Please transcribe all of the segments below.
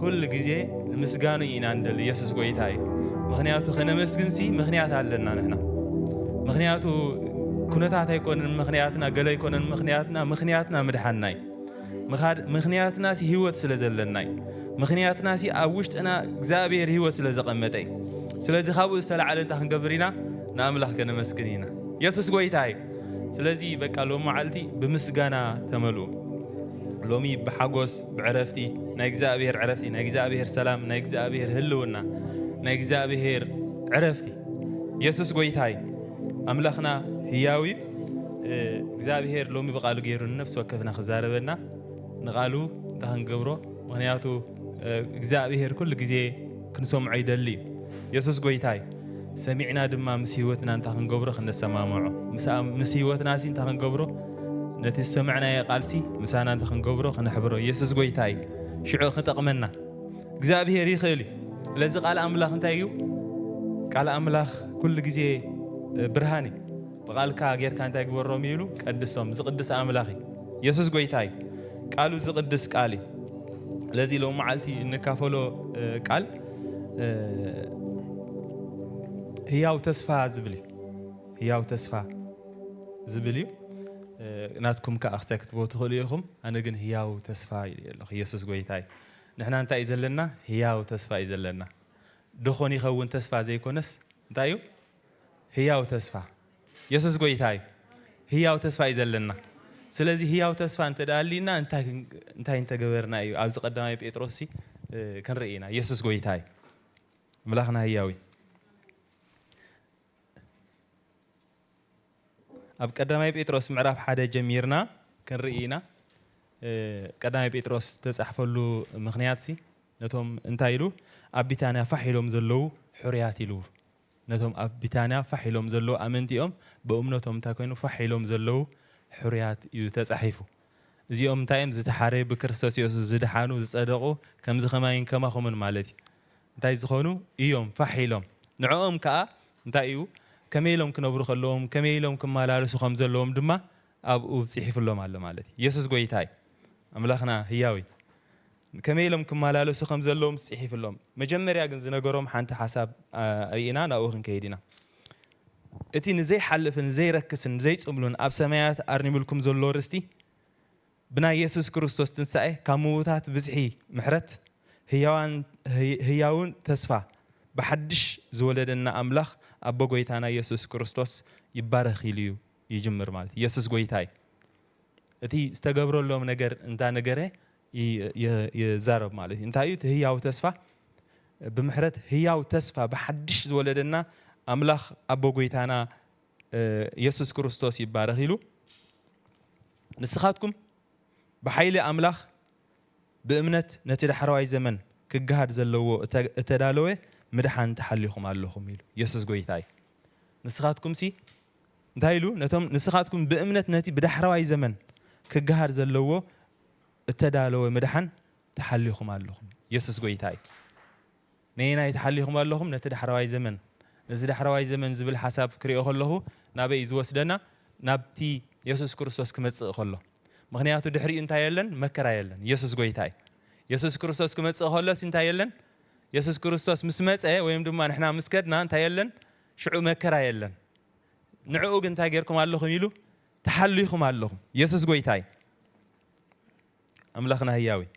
ኩሉ ግዜ ንምስጋኑ ኢና እንደሊ የሱስ ጎይታ እዩ ምክንያቱ ከነመስግንሲ ምክንያት ኣለና ንሕና ምክንያቱ ኩነታት ኣይኮነን ምክንያትና ገለ ኣይኮነን ምክንያትና ምክንያትና ምድሓና እዩ ምክንያትና ሲ ህይወት ስለ ዘለና እዩ ምክንያትና ሲ ኣብ ውሽጥና እግዚኣብሔር ህይወት ስለ ዘቐመጠ እዩ ስለዚ ካብኡ ዝተላዕለ እንታይ ክንገብር ኢና ንኣምላኽ ከነመስግን ኢና የሱስ ጎይታ እዩ ስለዚ በቃ ሎሚ መዓልቲ ብምስጋና ተመልኡ ሎሚ ብሓጎስ ብዕረፍቲ ናይ እግዚኣብሔር ዕረፍቲ ናይ እግዚኣብሔር ሰላም ናይ እግዚኣብሔር ህልውና ናይ እግዚኣብሔር ዕረፍቲ የሱስ ጎይታ እዩ ኣምላኽና ህያው እዩ እግዚኣብሔር ሎሚ ብቃሉ ገይሩ ንነፍሲ ወከፍና ክዛረበና ንቃሉ እንታይ ክንገብሮ ምክንያቱ እግዚኣብሔር ኩሉ ግዜ ክንሰምዖ ይደሊ እዩ የሱስ ጎይታ እዩ ሰሚዕና ድማ ምስ ህይወትና እንታይ ክንገብሮ ክነሰማምዖ ምስ ህይወትና ሲ እንታይ ክንገብሮ ነቲ ዝሰማዕናዮ ቃልሲ ምሳና እንታይ ክንገብሮ ክነሕብሮ ኢየሱስ ጎይታ እዩ ሽዑ ክጠቕመና እግዚኣብሔር ይኽእል እዩ ስለዚ ቃል ኣምላኽ እንታይ እዩ ቃል ኣምላኽ ኩሉ ግዜ ብርሃን እዩ ብቓልካ ጌርካ እንታይ ግበሮም እዩ ኢሉ ቀድሶም ዝቕድስ ኣምላኽ እዩ የሱስ ጎይታ እዩ ቃሉ ዝቕድስ ቃል እዩ ለዚ ሎም መዓልቲ እንካፈሎ ቃል ህያው ተስፋ ዝብል እዩ ህያው ተስፋ ዝብል እዩ ናትኩም ከዓ ክሳይ ክትቦ ትኽእሉ ኢኹም ኣነ ግን ህያው ተስፋ ኢሉ ኣለኹ ኢየሱስ ጎይታ እዩ ንሕና እንታይ እዩ ዘለና ህያው ተስፋ እዩ ዘለና ደኾን ይኸውን ተስፋ ዘይኮነስ እንታይ እዩ ህያው ተስፋ የሱስ ጎይታ እዩ። ህያው ተስፋ እዩ ዘለና። ስለዚ ህያው ተስፋ እንተ ኣልዩና እንታይ እንታይ እንተ ገበርና እዩ? ኣብዚ ቀዳማይ ጴጥሮስሲ ክንርኢ ኢና። የሱስ ጎይታ እዩ። ምላኽና ህያው እዩ። ኣብ ቀዳማይ ጴጥሮስ ምዕራፍ ሓደ ጀሚርና ክንርኢ ኢና። ቀዳማይ ጴጥሮስ ዝተጻሕፈሉ ምክንያትሲ ነቶም እንታይ ኢሉ ኣብ ቢታንያ ፋሕ ኢሎም ዘለዉ ሕሩያት ኢሉ ነቶም ኣብ ቢታንያ ፋሕ ኢሎም ዘለዉ ኣመንቲኦም ብእምነቶም እንታይ ኮይኑ ፋሕ ኢሎም ዘለዉ ሕሩያት እዩ ተጻሒፉ። እዚኦም እንታይ እዮም ዝተሓረዩ ብክርስቶስ የሱስ ዝደሓኑ ዝጸደቁ ከምዚ ከማይን ከማኹምን ማለት እዩ እንታይ ዝኾኑ እዮም ፋሕ ኢሎም ንዕኦም ከኣ እንታይ እዩ ከመይ ኢሎም ክነብሩ ከለዎም ከመይ ኢሎም ክመላለሱ ከም ዘለዎም ድማ ኣብኡ ጺሒፍሎም ኣሎ ማለት እዩ። የሱስ ጎይታ እዩ ኣምላኽና ህያው እዩ። ከመይ ኢሎም ክመላለሱ ከም ዘለዎምስ ጽሒፍሎም። መጀመርያ ግን ዝነገሮም ሓንቲ ሓሳብ ርኢና ናብኡ ክንከይድ ኢና። እቲ ንዘይሓልፍን ዘይረክስን ዘይጽምሉን ኣብ ሰማያት ኣርኒምልኩም ዘሎ ርስቲ፣ ብናይ የሱስ ክርስቶስ ትንሳኤ ካብ ምዉታት ብዝሒ ምሕረት፣ ህያዋን ህያዉ ተስፋ ብሓድሽ ዝወለደና ኣምላኽ ኣቦ ጐይታና የሱስ ክርስቶስ ይባረኽ ኢሉ'ዩ ይጅምር ማለት ኢዩ። የሱስ ጐይታ ኢዩ። እቲ ዝተገብረሎም ነገር እንዳ ነገረ ይዛረብ ማለት እዩ። እንታይ እዩ እቲ ህያው ተስፋ? ብምሕረት ህያው ተስፋ ብሓድሽ ዝወለደና ኣምላኽ ኣቦ ጐይታና የሱስ ክርስቶስ ይባረኽ ኢሉ ንስኻትኩም ብሓይሊ ኣምላኽ ብእምነት ነቲ ዳሕረዋይ ዘመን ክገሃድ ዘለዎ እተዳለወ ምድሓን ተሓሊኹም ኣለኹም ኢሉ። የሱስ ጐይታ እዩ። ንስኻትኩምሲ እንታይ ኢሉ ነቶም ንስኻትኩም ብእምነት ነቲ ብዳሕረዋይ ዘመን ክገሃድ ዘለዎ እተዳለወ ምድሓን ተሓሊኹም ኣለኹም። የሱስ ጐይታ እዩ። ነየናይ ተሓሊኹም ኣለኹም? ነቲ ዳሕረዋይ ዘመን። ነዚ ዳሕረዋይ ዘመን ዝብል ሓሳብ ክሪኦ ከለኹ ናበይ እዩ ዝወስደና? ናብቲ የሱስ ክርስቶስ ክመጽእ ከሎ። ምኽንያቱ ድሕሪኡ እንታይ የለን? መከራ የለን። የሱስ ጐይታ እዩ። የሱስ ክርስቶስ ክመጽእ ከሎሲ እንታይ የለን? የሱስ ክርስቶስ ምስ መጸ ወይም ድማ ንሕና ምስ ከድና እንታይ የለን? ሽዑ መከራ የለን። ንዕኡ ግን እንታይ ጌርኩም ኣለኹም ኢሉ? ተሓሊኹም ኣለኹም የሱስ ጎይታ እዩ ኣምላኽና ህያው እዩ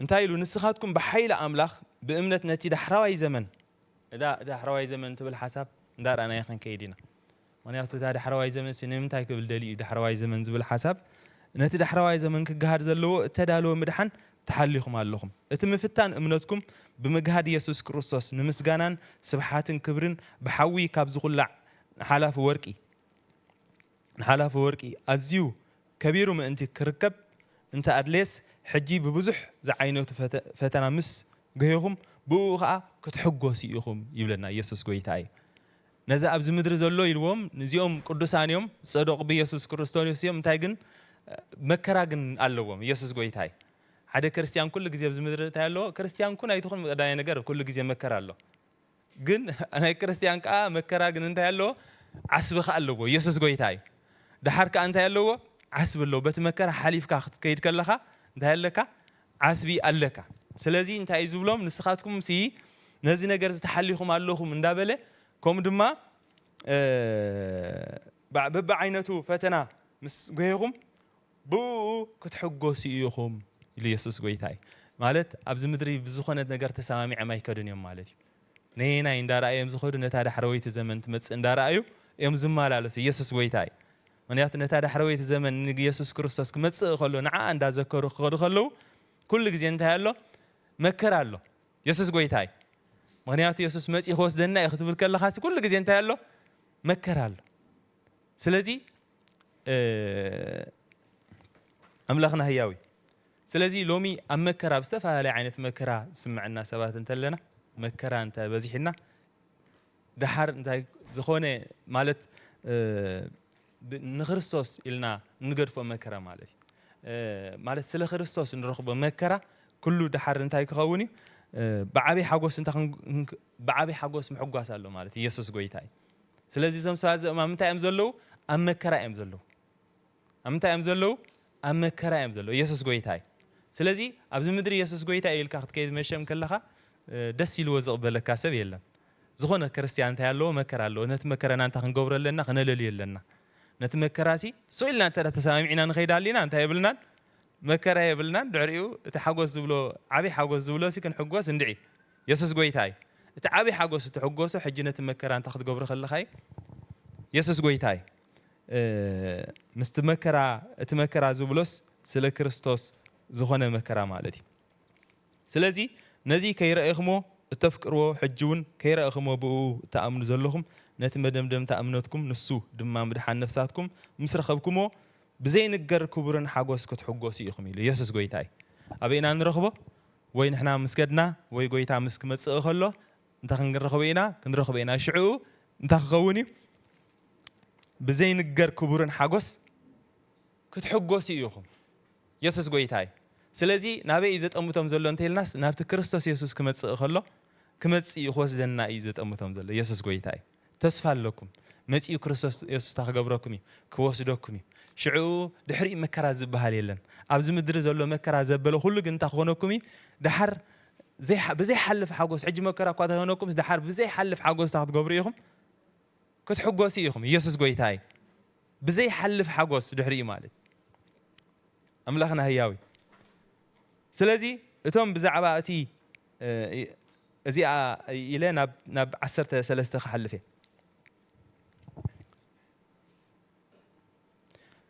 እንታይ ኢሉ ንስኻትኩም ብሓይሊ ኣምላኽ ብእምነት ነቲ ዳሕራዋይ ዘመን እዛ ዳሕራዋይ ዘመን ትብል ሓሳብ እንዳረኣናያ ክንከይድ ኢና ምኽንያቱ እታ ዳሕረዋይ ዘመንሲ ንምንታይ ክብል ደልዩ እዩ ዳሕረዋይ ዘመን ዝብል ሓሳብ ነቲ ዳሕረዋይ ዘመን ክገሃድ ዘለዎ እተዳለወ ምድሓን ተሓሊኹም ኣለኹም እቲ ምፍታን እምነትኩም ብምግሃድ የሱስ ክርስቶስ ንምስጋናን ስብሓትን ክብርን ብሓዊ ካብ ዝኹላዕ ንሓላፊ ወርቂ ንሓላፊ ወርቂ ኣዝዩ ከቢሩ ምእንቲ ክርከብ እንተ ኣድለየስ ሕጂ ብብዙሕ ዝዓይነቱ ፈተና ምስ ገህኹም ብእኡ ኸኣ ክትሕጎሱ ኢኹም ይብለና የሱስ ጎይታ እዩ ነዚ ኣብዚ ምድሪ ዘሎ ኢልዎም እዚኦም ቅዱሳን እዮም ዝጸደቁ ብየሱስ ክሩስቶስ እዮም እንታይ ግን መከራ ግን ኣለዎም የሱስ ጎይታ እዩ ሓደ ክርስትያን ኩሉ ግዜ ኣብዚ ምድሪ እንታይ ኣለዎ ክርስትያን ኩን ኣይትኹን ቀዳማይ ነገር ኩሉ ግዜ መከራ ኣሎ ግን ናይ ክርስትያን ከኣ መከራ ግን እንታይ ኣለዎ ዓስቢ ከኣ ኣለዎ የሱስ ጎይታ እዩ ደሓር ከኣ እንታይ ኣለዎ ዓስቢ ኣለዎ በቲ መከራ ሓሊፍካ ክትከይድ ከለኻ እንታይ ኣለካ ዓስቢ ኣለካ ስለዚ እንታይ እዩ ዝብሎም ንስካትኩም ሲ ነዚ ነገር እዚ ተሓሊኩም ኣለኩም እንዳበለ ከምኡ ድማ በብዓይነቱ ፈተና ምስ ጎሄኩም ብእኡ ክትሕጎሱ ኢኩም ኢሉ የሱስ ጎይታ እዩ ማለት ኣብዚ ምድሪ ብዝኮነ ነገር ተሰማሚዕም ኣይከዱን እዮም ማለት እዩ ነየናይ እንዳረኣዩ እዮም ዝከዱ ነታ ዳሕረወይቲ ዘመን ትመጽእ እንዳረኣዩ እዮም ዝመላለሱ የሱስ ጎይታ እዩ ምኽንያቱ ነታ ዳሕረወይቲ ዘመን ንየሱስ ክርስቶስ ክመጽእ ከሎ ንዓኣ እንዳ ዘከሩ ክኸዱ ከለዉ ኩሉ ግዜ እንታይ ኣሎ መከራ ኣሎ የሱስ ጎይታ እዩ ምኽንያቱ የሱስ መጽኡ ክወስደና እዩ ክትብል ከለኻሲ ኩሉ ግዜ እንታይ ኣሎ መከራ ኣሎ ስለዚ ኣምላኽና ህያው እዩ ስለዚ ሎሚ ኣብ መከራ ኣብ ዝተፈላለየ ዓይነት መከራ ዝስምዐና ሰባት እንተለና መከራ እንተ በዚሕና ደሓር እንታይ ዝኾነ ማለት ንክርስቶስ ኢልና እንገድፎ መከራ ማለት እዩ ማለት ስለ ክርስቶስ እንረኽቦ መከራ ኩሉ ደሓር እንታይ ክኸውን እዩ ብዓብይ ሓጎስ እንታ ብዓብይ ሓጎስ ምሕጓስ ኣሎ ማለት ኢየሱስ ጎይታ እዩ ስለዚ እዞም ሰባት እዚኦም ኣብ ምንታይ እዮም ዘለዉ ኣብ መከራ እዮም ዘለዉ ኣብ ምንታይ እዮም ዘለዉ ኣብ መከራ እዮም ዘለዉ የሱስ ጎይታ እዩ ስለዚ ኣብዚ ምድሪ የሱስ ጎይታ እዩ ኢልካ ክትከይድ መሸም ከለኻ ደስ ኢልዎ ዝቕበለካ ሰብ የለን ዝኾነ ክርስትያን እንታይ ኣለዎ መከራ ኣለዎ ነቲ መከራና እንታይ ክንገብሮ ኣለና ክነለልዮ ኣለና ነቲ መከራሲ ሱቅ ኢልና እንተ ተሰማሚዕና ንኸይድ ኣሊና እንታይ የብልናን መከራ የብልናን ድሕሪኡ እቲ ሓጎስ ዝብሎ ዓብይ ሓጎስ ዝብሎ ሲ ክንሕጎስ እንድዒ የሱስ ጎይታ እዩ እቲ ዓብይ ሓጎስ እትሕጎሶ ሕጂ ነቲ መከራ እንታይ ክትገብሮ ከለኻ እዩ የሱስ ጎይታ እዩ ምስቲ መከራ እቲ መከራ ዝብሎስ ስለ ክርስቶስ ዝኾነ መከራ ማለት እዩ ስለዚ ነዚ ከይረኤኽሞ እተፍቅርዎ ሕጂውን ከይረእኽሞ ብእኡ እትኣምኑ ዘለኹም ነቲ መደምደምታ እምነትኩም ንሱ ድማ ምድሓን ነፍሳትኩም ምስ ረኸብክሞ ብዘይንገር ክቡርን ሓጎስ ክትሕጎሱ ኢኹም ኢሉ ኢየሱስ ጎይታ እዩ ኣበይ ኢና ንረኽቦ ወይ ንሕና ምስ ከድና ወይ ጎይታ ምስ ክመጽእ ከሎ እንተ ክንረኽቦ ኢና ክንረኽቦ ኢና ሽዕኡ እንታይ ክኸውን እዩ ብዘይንገር ክቡርን ሓጎስ ክትሕጎሱ ኢኹም። የሱስ ጎይታ እዩ። ስለዚ ናበይ እዩ ዘጠምቶም ዘሎ እንተ ኢልናስ ናብቲ ክርስቶስ የሱስ ክመጽእ እከሎ ክመጽእ እዩ ክወስደና እዩ ዘጠምቶም ዘሎ። የሱስ ጎይታ እዩ። ተስፋ ኣለኩም። መጺኡ ክርስቶስ የሱስ እታ ክገብረኩም እዩ። ክወስደኩም እዩ። ሽዑ ድሕሪኡ መከራ ዝበሃል የለን። ኣብዚ ምድሪ ዘሎ መከራ ዘበለ ኩሉ ግን እንታይ ክኾነኩም እዩ? ድሓር ብዘይሓልፍ ሓጎስ ሕጂ መከራ እኳ ተኾነኩምስ ድሓር ብዘይሓልፍ ሓጎስ እታ ክትገብሩ ኢኹም። ክትሕጎሱ ኢኹም ኢየሱስ ጎይታይ ብዘይሓልፍ ሓጎስ ድሕሪኡ ማለት ኣምላኽና ህያው እዩ ስለዚ እቶም ብዛዕባ እቲ እዚኣ ኢለ ናብ ዓሰርተ ሰለስተ ክሓልፍ እየ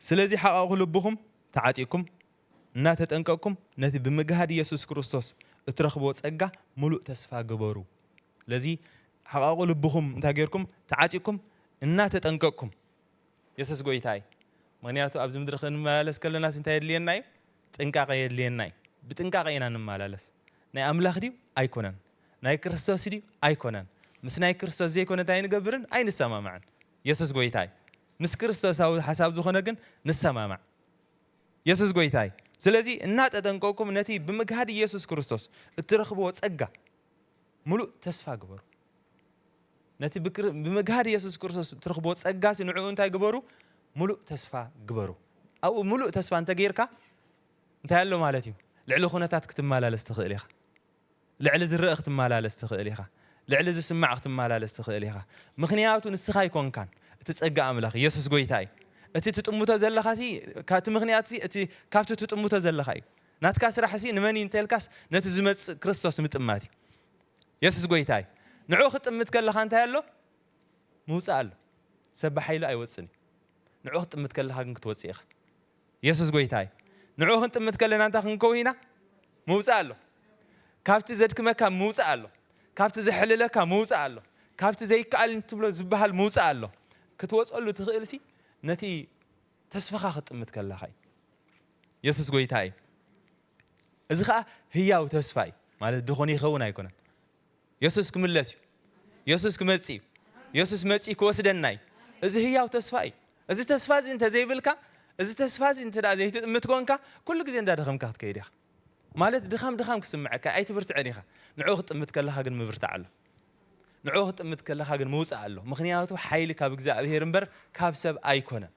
ስለዚ ሓቐቑ ልብኹም ተዓጢኩም እናተጠንቀቅኩም ነቲ ብምግሃድ ኢየሱስ ክርስቶስ እትረኽብዎ ጸጋ ምሉእ ተስፋ ግበሩ ለዚ ሓቓቑ ልብኹም እንታይ ጌርኩም ተዓጢቅኩም እናተጠንቀቅኩም የሱስ ጎይታ እዩ ምኽንያቱ ኣብዚ ምድሪ ክንመላለስ ከለናስ እንታይ የድልየና እዩ ጥንቃቐ የድልየና እዩ ብጥንቃቐ ኢና ንመላለስ ናይ ኣምላኽ ድዩ ኣይኮነን ናይ ክርስቶስ ድዩ ኣይኮነን ምስ ናይ ክርስቶስ ዘይኮነ እንታይ ኣይንገብርን ኣይንሰማማዕን የሱስ ጎይታ እዩ ምስ ክርስቶሳዊ ሓሳብ ዝኾነ ግን ንሰማማዕ የሱስ ጎይታ እዩ ስለዚ እናተጠንቀቅኩም ነቲ ብምግሃድ ኢየሱስ ክርስቶስ እትረኽብዎ ጸጋ ምሉእ ተስፋ ግበሩ። ነቲ ብመግሃድ የሱስ ክርስቶስ እትረኽብዎ ጸጋሲ ንዕኡ እንታይ ግበሩ? ምሉእ ተስፋ ግበሩ። ኣብኡ ምሉእ ተስፋ እንተገይርካ እንታይ ኣሎ ማለት እዩ? ልዕሊ ኩነታት ክትመላለስ ትኽእል ኢኻ። ልዕሊ ዝረአ ክትመላለስ ትኽእል ኢኻ። ልዕሊ ዝስማዕ ክትመላለስ ትኽእል ኢኻ። ምክንያቱ ንስኻ ኣይኮንካን እቲ ጸጋ ኣምላኽ የሱስ ጎይታ እዩ። እቲ ትጥምቶ ዘለኻሲ ካብቲ ምክንያትሲ እቲ ካብቲ ትጥምቶ ዘለኻ እዩ። ናትካ ስራሕሲ ንመን እዩ እንተልካስ ነቲ ዝመጽእ ክርስቶስ ምጥማት እዩ። የሱስ ጎይታ እዩ። ንዕኡ ክትጥምት ከለኻ እንታይ ኣሎ? ምውጻእ ኣሎ። ሰብ ብሓይሉ ኣይወጽን እዩ። ንዕኡ ክትጥምት ከለኻ ግን ክትወጽእ ኢኻ። የሱስ ጎይታ እዩ። ንዕኡ ክንጥምት ከለና እንታይ ክንከውን ኢና? ምውጻእ ኣሎ። ካብቲ ዘድክመካ ምውጻእ ኣሎ። ካብቲ ዘሕልለካ ምውጻእ ኣሎ። ካብቲ ዘይከኣል ትብሎ ዝበሃል ምውጻእ ኣሎ። ክትወጸሉ ትኽእልሲ ነቲ ተስፋኻ ክትጥምት ከለኻ እዩ። የሱስ ጎይታ እዩ። እዚ ኸኣ ህያው ተስፋ እዩ። ማለት ድኹን ይኸውን ኣይኮነን። የሱስ ክምለስ እዩ። የሱስ ክመጽእ እዩ። የሱስ መጺኡ ክወስደና እዩ። እዚ ህያው ተስፋ እዩ። እዚ ተስፋ እዚ እንተ ዘይብልካ እዚ ተስፋ እዚ እንተ ዘይትጥምት ኮንካ ኩሉ ግዜ እንዳደኸምካ ክትከይድ ኢኻ። ማለት ድኻም ድኻም ክስምዐካ ኣይትብርትዕን ኢኻ። ንዕኡ ክትጥምት ከለኻ ግን ምብርታዕ ኣሎ። ንዕኡ ክትጥምት ከለኻ ግን ምውጻእ ኣሎ ምኽንያቱ ሓይሊ ካብ እግዚኣብሄር እምበር ካብ ሰብ ኣይኮነን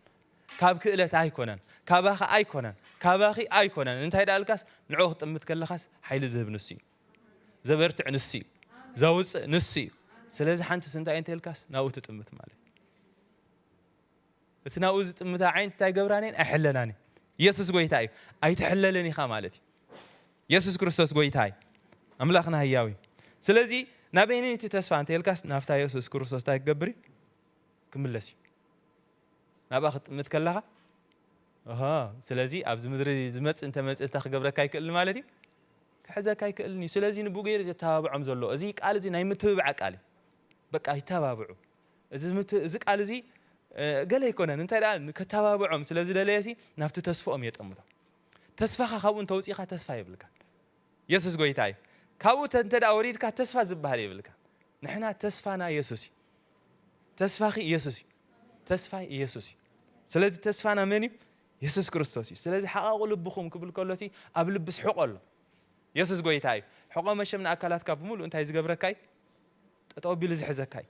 ካብ ክእለት ኣይኮነን ካባኻ ኣይኮነን ካባኺ ኣይኮነን እንታይ ደኣ ልካስ ንዕኡ ክትጥምት ከለኻስ ሓይሊ ዝህብ ንሱ እዩ ዘበርትዕ ንሱ እዩ ዘውጽእ ንሱ እዩ ስለዚ ሓንትስ እንታይ እንተልካስ ናብኡ ትጥምት ማለት እቲ ናብኡ ዝጥምታ ዓይንት እንታይ ገብራን እየን? ኣይሕለናን እየን። ኢየሱስ ጎይታ እዩ። ኣይትሕለልን ኢኻ ማለት እዩ። ኢየሱስ ክርስቶስ ጎይታ እዩ። ኣምላኽና ህያው እዩ። ስለዚ ናበይን እቲ ተስፋ እንተልካስ ናብታ ኢየሱስ ክርስቶስ እንታይ ክገብር እዩ? ክምለስ እዩ። ናብኣ ክትጥምት ከለኻ ስለዚ ኣብዚ ምድሪ ዝመፅእ እንተመፅእ እንታይ ክገብረካ ኣይክእልን ማለት እዩ ክሕዘካ ኣይክእልን እዩ ስለዚ ንብኡ ገይሩ ዘተባብዖም ዘሎ እዚ ቃል እዚ ናይ ምትብባዕ ቃል እዩ በቃ ይተባብዑ እዚ ምት እዚ ቃል እዚ ገለ ኣይኮነን እንታይ ደኣ ከተባብዖም ስለ ዝደለየሲ ናብቲ ተስፍኦም የጠምቶም ተስፋኻ ካብኡ እንተውጺእካ ተስፋ የብልካን የሱስ ጎይታ እዩ ካብኡ እንተ ደኣ ወሪድካ ተስፋ ዝበሃል የብልካ ንሕና ተስፋና የሱስ እዩ ተስፋኺ የሱስ እዩ ተስፋይ የሱስ እዩ ስለዚ ተስፋና መን እዩ የሱስ ክርስቶስ እዩ ስለዚ ሓቓቑ ልብኹም ክብል ከሎሲ ኣብ ልብስ ሕቖ ኣሎ የሱስ ጎይታ እዩ ሕቖ መሸም ንኣካላትካ ብምሉእ እንታይ ዝገብረካ እዩ ጠጠው ኣቢሉ ዝሕዘካ እዩ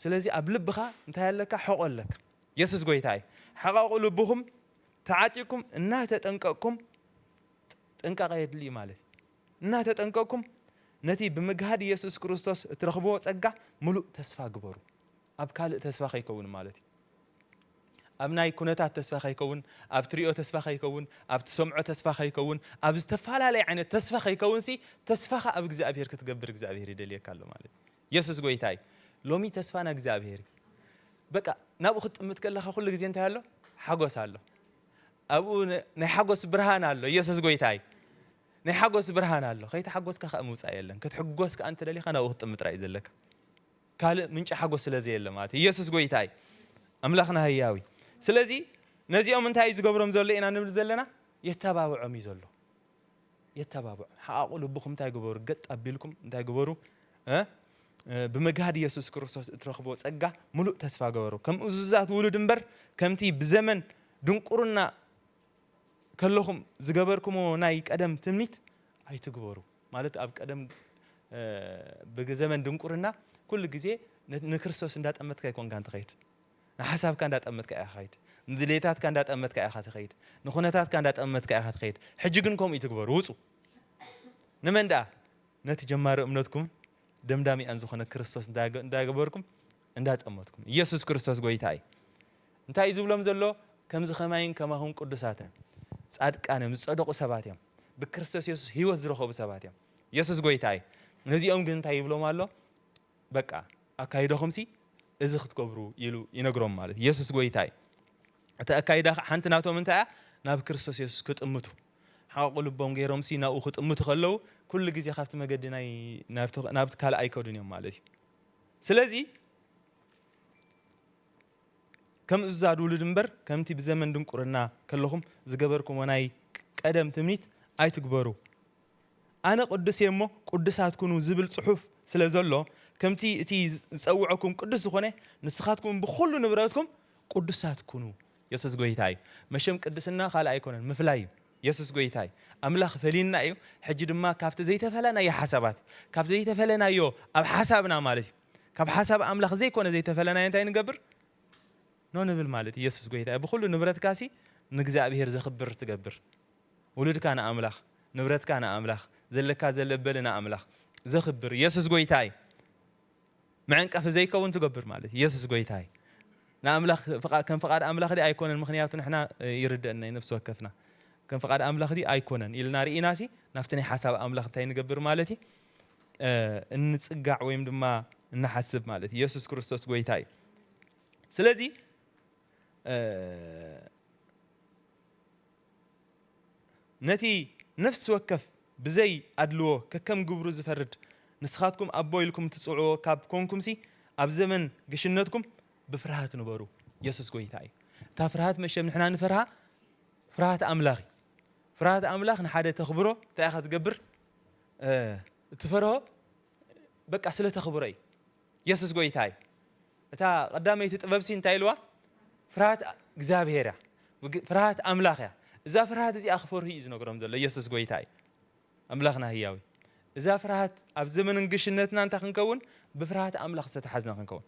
ስለዚ ኣብ ልብካ እንታይ ኣለካ ሕቆ ኣለካ የሱስ ጎይታ እዩ ሕቀቁ ልብኩም ተዓጢቅኩም እናተጠንቀቅኩም ጥንቃቀ የድልዩ ማለት እዩ እናተጠንቀቅኩም ነቲ ብምግሃድ የሱስ ክርስቶስ እትረክብዎ ጸጋ ምሉእ ተስፋ ግበሩ ኣብ ካልእ ተስፋ ከይከውን ማለት እዩ ኣብ ናይ ኩነታት ተስፋ ከይከውን፣ ኣብ ትሪኦ ተስፋ ከይከውን፣ ኣብ ትሰምዖ ተስፋ ከይከውን፣ ኣብ ዝተፋላለየ ዓይነት ተስፋ ከይከውንሲ ተስፋኻ ኣብ እግዚኣብሄር ክትገብር እግዚኣብሄር ይደልየካ ኣሎ ማለት እዩ። የሱስ ጎይታ እዩ። ሎሚ ተስፋና እግዚኣብሄር እዩ። በቃ ናብኡ ክትጥምት ከለኻ ኩሉ ግዜ እንታይ ኣሎ? ሓጎስ ኣሎ። ኣብኡ ናይ ሓጎስ ብርሃን ኣሎ። የሱስ ጎይታ እዩ። ናይ ሓጎስ ብርሃን ኣሎ። ከይተሓጎስካ ከኣ ምውጻእ የለን። ክትሕጎስ ከኣ እንተደሊኻ ናብኡ ክትጥምት ጥራይ እዩ ዘለካ። ካልእ ምንጪ ሓጎስ ስለ ዘየለ ማለት እዩ። ኢየሱስ ጎይታ እዩ። ኣምላኽና ህያው እዩ። ስለዚ ነዚኦም እንታይ እዩ ዝገብሮም ዘሎ ኢና ንብል ዘለና? የተባብዖም እዩ ዘሎ። የተባብዖም። ሓቓቑ ልብኹም እንታይ ግበሩ? ገጥ ኣቢልኩም እንታይ ግበሩ? ብምግሃድ ኢየሱስ ክርስቶስ እትረኽብዎ ጸጋ ምሉእ ተስፋ ገበሩ። ከም እዙዛት ውሉድ እምበር ከምቲ ብዘመን ድንቁርና ከለኹም ዝገበርኩምዎ ናይ ቀደም ትምኒት ኣይትግበሩ ማለት ኣብ ቀደም ብዘመን ድንቁርና ኩሉ ግዜ ንክርስቶስ እንዳጠመትካ ኣይኮንካን ትኸይድ ንሓሳብካ እንዳጠመትካ ኢኻ ኸይድ ንድሌታትካ እንዳጠመትካ ኢኻ ትኸይድ ንኹነታትካ እንዳጠመትካ ኢኻ ትኸይድ ሕጂ ግን ከምኡ ይትግበሩ ውፁ ንመን ደኣ ነቲ ጀማሪ እምነትኩምን ደምዳሚኣን ዝኾነ ክርስቶስ እንዳገበርኩም እንዳጠመትኩም ኢየሱስ ክርስቶስ ጎይታ እዩ እንታይ እዩ ዝብሎም ዘሎ? ከምዚ ኸማይን ከማኹም ቅዱሳትን ጻድቃን እዮም፣ ዝጸደቑ ሰባት እዮም፣ ብክርስቶስ የሱስ ህይወት ዝረኸቡ ሰባት እዮም። የሱስ ጎይታ እዩ። ነዚኦም ግን እንታይ ይብሎም ኣሎ? በቃ ኣካይዳኹምሲ እዚ ክትገብሩ ኢሉ ይነግሮም ማለት እዩ። የሱስ ጎይታ እዩ። እቲ ኣካይዳ ሓንቲ ናቶም እንታይ እያ? ናብ ክርስቶስ የሱስ ክጥምቱ ሓቑ ልቦም ገይሮምሲ ናብኡ ክጥምቱ ከለዉ ኩሉ ግዜ ካብቲ መገዲ ናይ ናብቲ ካልእ ኣይከዱን እዮም ማለት እዩ። ስለዚ ከም እዙዛት ውሉድ እምበር ከምቲ ብዘመን ድንቁርና ከለኹም ዝገበርኩምዎ ናይ ቀደም ትምኒት ኣይትግበሩ። ኣነ ቅዱስ እየ እሞ ቅዱሳት ኩኑ ዝብል ጽሑፍ ስለ ዘሎ ከምቲ እቲ ዝጸውዐኩም ቅዱስ ዝኾነ ንስኻትኩምን ብኹሉ ንብረትኩም ቅዱሳት ኩኑ። የሱስ ጎይታ እዩ መሸም ቅድስና ካልእ ኣይኮነን ምፍላይ እዩ የሱስ ጎይታ እዩ ኣምላኽ ፈልዩና እዩ ሕጂ ድማ ካብቲ ዘይተፈለናዮ ሓሳባት ካብቲ ዘይተፈለናዮ ኣብ ሓሳብና ማለት እዩ ካብ ሓሳብ ኣምላኽ ዘይኮነ ዘይተፈለናዮ እንታይ ንገብር ን ንብል ማለት እዩ የሱስ ጎይታ እዩ ብኹሉ ንብረትካሲ ንእግዚኣብሄር ዘኽብር ትገብር ውሉድካ ንኣምላኽ ንብረትካ ንኣምላኽ ዘለካ ዘለበሊ ንኣምላኽ ዘኽብር የሱስ ጎይታ እዩ መዐንቀፊ ዘይከውን ትገብር ማለት እዩ የሱስ ጎይታ እዩ ንኣምላኽ ከም ፍቓድ ኣምላኽ ዲ ኣይኮነን ምክንያቱ ንሕና ይርደአና እዩ ነፍሲ ወከፍና ከም ፍቓድ ኣምላኽ ዲ ኣይኮነን ኢልና ርኢናሲ ናብቲ ናይ ሓሳብ ኣምላኽ እንታይ ንገብር ማለት እዩ እንጽጋዕ ወይም ድማ እንሓስብ ማለት እዩ። የሱስ ክርስቶስ ጎይታ እዩ። ስለዚ ነቲ ነፍሲ ወከፍ ብዘይ ኣድልዎ ከከም ግብሩ ዝፈርድ ንስኻትኩም ኣቦ ኢልኩም ትጽውዕዎ ካብ ኮንኩምሲ ኣብ ዘመን ግሽነትኩም ብፍርሃት ንበሩ። የሱስ ጎይታ እዩ። እታ ፍርሃት መሸም ንሕና ንፈርሃ ፍርሃት ኣምላኽ እዩ። ፍርሃት ኣምላኽ ንሓደ ተኽብሮ እንታይ ኢኻ ትገብር? እትፈርሆ በቃ ስለ ተኽብሮ እዩ የሱስ ጎይታ እዩ እታ ቀዳመይቲ ጥበብሲ እንታይ ኢልዋ ፍርሃት እግዚኣብሄር እያ ፍርሃት ኣምላኽ እያ እዛ ፍርሃት እዚኣ ክፈርሁ እዩ ዝነግሮም ዘሎ የሱስ ጎይታ እዩ ኣምላኽና ህያዊ እዛ ፍርሃት ኣብ ዘመን እንግሽነትና እንታይ ክንከውን ብፍርሃት ኣምላኽ ዝተተሓዝና ክንከውን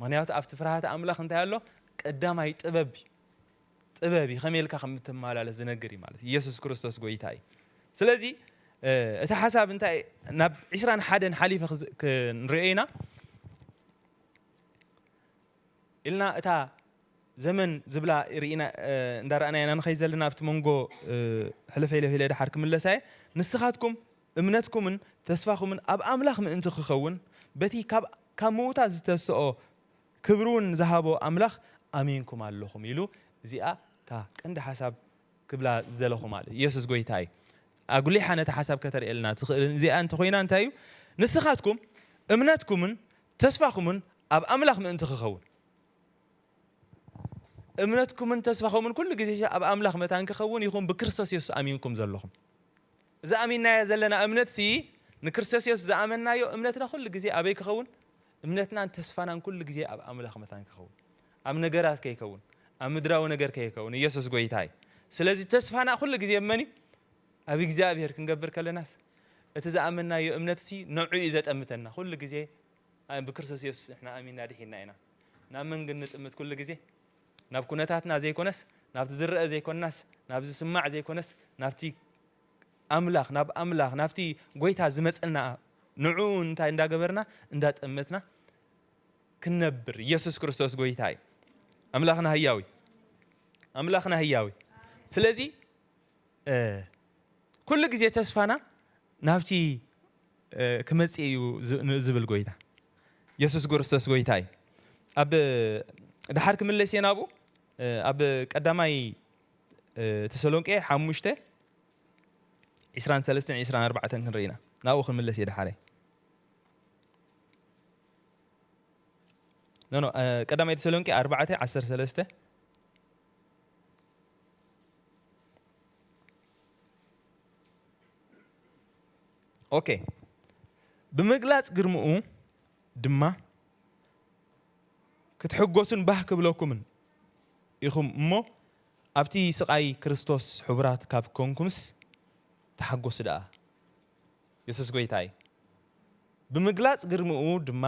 ምክንያቱ ኣብቲ ፍርሃት ኣምላኽ እንታይ ኣሎ ቀዳማይ ጥበብ እዩ ጥበብ እዩ ከመይ ኢልካ ከም እትመላለስ ዝነግር እዩ ማለት ኢየሱስ ክርስቶስ ጎይታ እዩ ስለዚ እቲ ሓሳብ እንታይ ናብ ዕስራን ሓደን ሓሊፈ ክንሪኦ ኢና ኢልና እታ ዘመን ዝብላ ርኢና እንዳረኣና ኢና ንኸይ ዘለና ኣብቲ መንጎ ሕልፈ ኢለ ኢለ ድሓር ክምለሳ እየ ንስኻትኩም እምነትኩምን ተስፋኹምን ኣብ ኣምላኽ ምእንቲ ክኸውን በቲ ካብ ምውታት ዝተስኦ ክብሪ ውን ዝሃቦ ኣምላኽ ኣሚንኩም ኣለኹም ኢሉ እዚኣ እታ ቀንዲ ሓሳብ ክብላ ዝደለኹ ማለት ኢየሱስ ጎይታ እዩ ኣጉሊሓ ነቲ ሓሳብ ከተርእየልና ትኽእል እዚኣ እንተኾይና እንታይ እዩ ንስኻትኩም እምነትኩምን ተስፋኹምን ኣብ ኣምላኽ ምእንቲ ክኸውን እምነትኩምን ተስፋኹምን ኩሉ ግዜ ኣብ ኣምላኽ መታን ክኸውን ይኹን ብክርስቶስ የሱስ ኣሚንኩም ዘለኹም እዚ ኣሚንናዮ ዘለና እምነት ሲ ንክርስቶስ የሱስ ዝኣመንናዮ እምነትና ኩሉ ግዜ ኣበይ ክኸውን እምነትናን ተስፋናን ኩሉ ግዜ ኣብ ኣምላኽ መታን ክኸውን ኣብ ነገራት ከይከውን ኣብ ምድራዊ ነገር ከይከውን ኢየሱስ ጎይታ እዩ ስለዚ ተስፋና ኩሉ ግዜ ኣብ መን እዩ ኣብ እግዚኣብሔር ክንገብር ከለናስ እቲ ዝኣመናዮ እምነትሲ ነዑ እዩ ዘጠምተና ኩሉ ግዜ ብክርስቶስ ኢየሱስ ንሕና ኣሚንና ድሒንና ኢና ናብ መን ግን ንጥምት ኩሉ ግዜ ናብ ኩነታትና ዘይኮነስ ናብቲ ዝረአ ዘይኮንናስ ናብ ዝስማዕ ዘይኮነስ ናብቲ ኣምላኽ ናብ ኣምላኽ ናብቲ ጎይታ ዝመጸና ንዕኡ እንታይ እንዳገበርና እንዳጠመትና ክንነብር ኢየሱስ ክርስቶስ ጎይታ እዩ ኣምላኽና ህያዊ ኣምላኽና ህያዊ ስለዚ ኩሉ ግዜ ተስፋና ናብቲ ክመጽእ እዩ ዝብል ጎይታ ኢየሱስ ክርስቶስ ጎይታ እዩ ኣብ ድሓር ክምለስ እየ ናብኡ ኣብ ቀዳማይ ተሰሎንቄ ሓሙሽተ ዕስራን ሰለስተን ዕስራን ኣርባዕተን ክንርኢ ኢና ናብኡ ክንምለስ እየ ደሓረይ ኖ ኖ ቀዳማይ ተሰሎንቄ ኣርባዕተ ዓሰርተ ሰለስተ ኦኬ ብምግላጽ ግርምኡ ድማ ክትሕጎሱን ባህ ክብለኩምን ኢኹም እሞ ኣብቲ ስቓይ ክርስቶስ ሕቡራት ካብ ኰንኩምስ ተሓጐሱ ደኣ፣ የሱስ ጐይታ እዩ ብምግላጽ ግርምኡ ድማ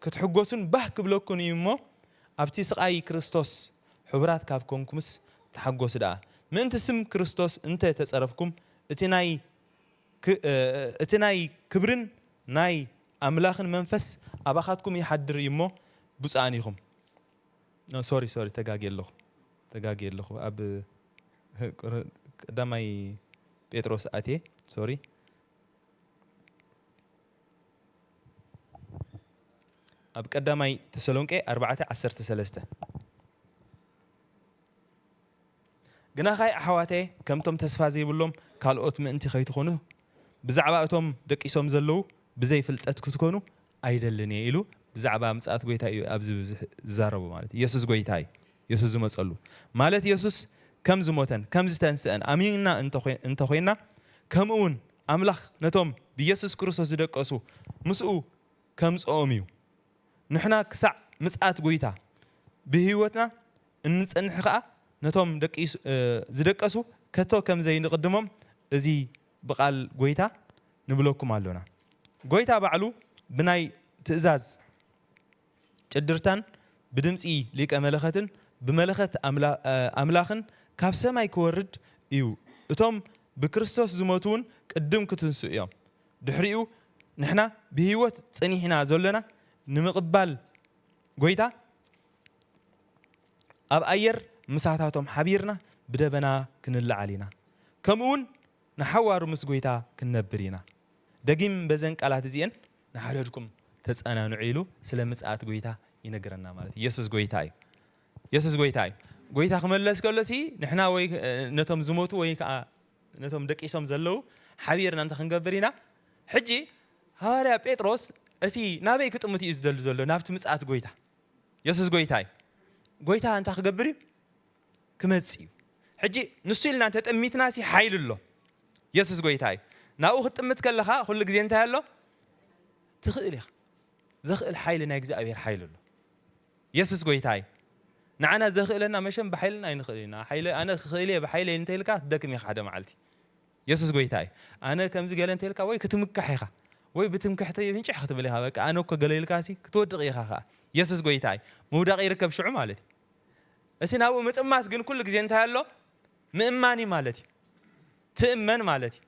ክትሕጐሱን ባህ ክብለኩን እዩ እሞ፣ ኣብቲ ስቓይ ክርስቶስ ሕቡራት ካብ ኰንኩምስ ተሓጐሱ ደኣ። ምእንቲ ስም ክርስቶስ እንተ ተጸረፍኩም፣ እቲ ናይ እቲ ናይ ክብርን ናይ ኣምላኽን መንፈስ ኣባኻትኩም ይሓድር እዩ እሞ፣ ብጹኣን ኢኹም። ሶሪ ሶሪ ተጋግየ ኣለኹ ተጋግየ ኣለኹ ኣብ ቀዳማይ ጴጥሮስ ኣትየ ሶሪ ኣብ ቀዳማይ ተሰሎንቄ ኣርባዕተ ዓሰርተ ሰለስተ ግና ካይ ኣሕዋተ ከምቶም ተስፋ ዘይብሎም ካልኦት ምእንቲ ከይትኾኑ ብዛዕባ እቶም ደቂሶም ዘለዉ ብዘይ ፍልጠት ክትኮኑ ኣይደልን እየ ኢሉ ብዛዕባ ምጽኣት ጎይታ እዩ ኣብዚ ብብዝሒ ዝዛረቦ ማለት እዩ የሱስ ጎይታ እዩ የሱስ ዝመጸሉ ማለት የሱስ ከም ዝሞተን ከም ዝተንስእን ኣሚንና እንተ ኾይንና ከምእውን ኣምላኽ ነቶም ብየሱስ ክርስቶስ ዝደቀሱ ምስኡ ከምጽኦም እዩ ንሕና ክሳዕ ምጽኣት ጎይታ ብህይወትና እንጸንሕ ከኣ ነቶም ዝደቀሱ ከቶ ከም ዘይንቕድሞም እዚ ብቓል ጐይታ ንብለኩም ኣሎና። ጐይታ ባዕሉ ብናይ ትእዛዝ ጭድርታን ብድምጺ ሊቀ መለኸትን ብመለኸት ኣምላኽን ካብ ሰማይ ኪወርድ እዩ፣ እቶም ብክርስቶስ ዝሞቱውን ቅድም ኪትንስኡ እዮም፣ ድሕሪኡ ንሕና ብህይወት ጸኒሕና ዘሎና ንምቕባል ጐይታ፣ ኣብ ኣየር ምሳታቶም ሓቢርና ብደበና ክንለዓል ኢና፣ ከምኡውን ንሓዋሩ ምስ ጐይታ ክንነብር ኢና። ደጊም በዘን ቃላት እዚኤን ንሓድሕድኩም ተጸናንዑ ኢሉ ስለ ምጽኣት ጐይታ ይነግረና ማለት እዩ። የሱስ ጐይታ እዩ። የሱስ ጐይታ እዩ። ጐይታ ክመለስ ከሎሲ ንሕና ወይ ነቶም ዝሞቱ ወይ ከኣ ነቶም ደቂሶም ዘለዉ ሓቢርና እንታይ ክንገብር ኢና? ሕጂ ሃዋርያ ጴጥሮስ እቲ ናበይ ክጥምት እዩ ዝደሊ ዘሎ? ናብቲ ምጽኣት ጐይታ። የሱስ ጎይታ እዩ። ጎይታ እንታይ ክገብር እዩ? ክመጽእ እዩ። ሕጂ ንሱ ኢልና እንተ ጥሚትናሲ ሓይሊ ኣሎ። የሱስ ጎይታ እዩ። ናብኡ ክትጥምት ከለኻ ኩሉ ግዜ እንታይ ኣሎ? ትኽእል ኢኻ። ዘኽእል ሓይሊ ናይ እግዚኣብሔር ሓይሊ ኣሎ። የሱስ ጎይታ እዩ። ንዓና ዘኽእለና መሸም ብሓይልና ኣይንኽእል ኢና። ሓይለ ኣነ ክኽእል እየ ብሓይለይ እንተኢልካ ትደክም ኢኻ ሓደ መዓልቲ። የሱስ ጎይታ እዩ ኣነ ከምዚ ገለ እንተልካ ወይ ክትምካሕ ኢካ ወይ ብትምክሕቲ ፍንጭሕ ክትብል ኢካ በቃ ኣነ እኮ ገለ ኢልካሲ ክትወድቅ ኢካ ከኣ የሱስ ጎይታ እዩ ምውዳቅ ይርከብ ሽዑ ማለት እዩ እቲ ናብኡ ምጥማት ግን ኩሉ ግዜ እንታይ ኣሎ ምእማን እዩ ማለት እዩ ትእመን ማለት እዩ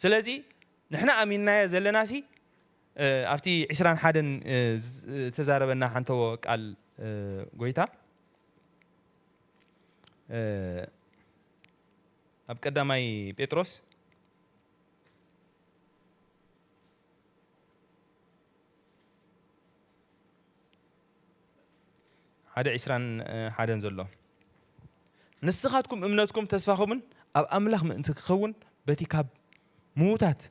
ስለዚ ንሕና ኣሚንናዮ ዘለናሲ ኣብቲ ዕስራን ሓደን ዝተዛረበና ሓንተዎ ቃል ጎይታ ኣብ ቀዳማይ ጴጥሮስ ሓደ ዒስራን ሓደን ዘሎ ንስኻትኩም እምነትኩም ተስፋኹምን ኣብ ኣምላኽ ምእንቲ ክኸውን በቲ ካብ ምዉታት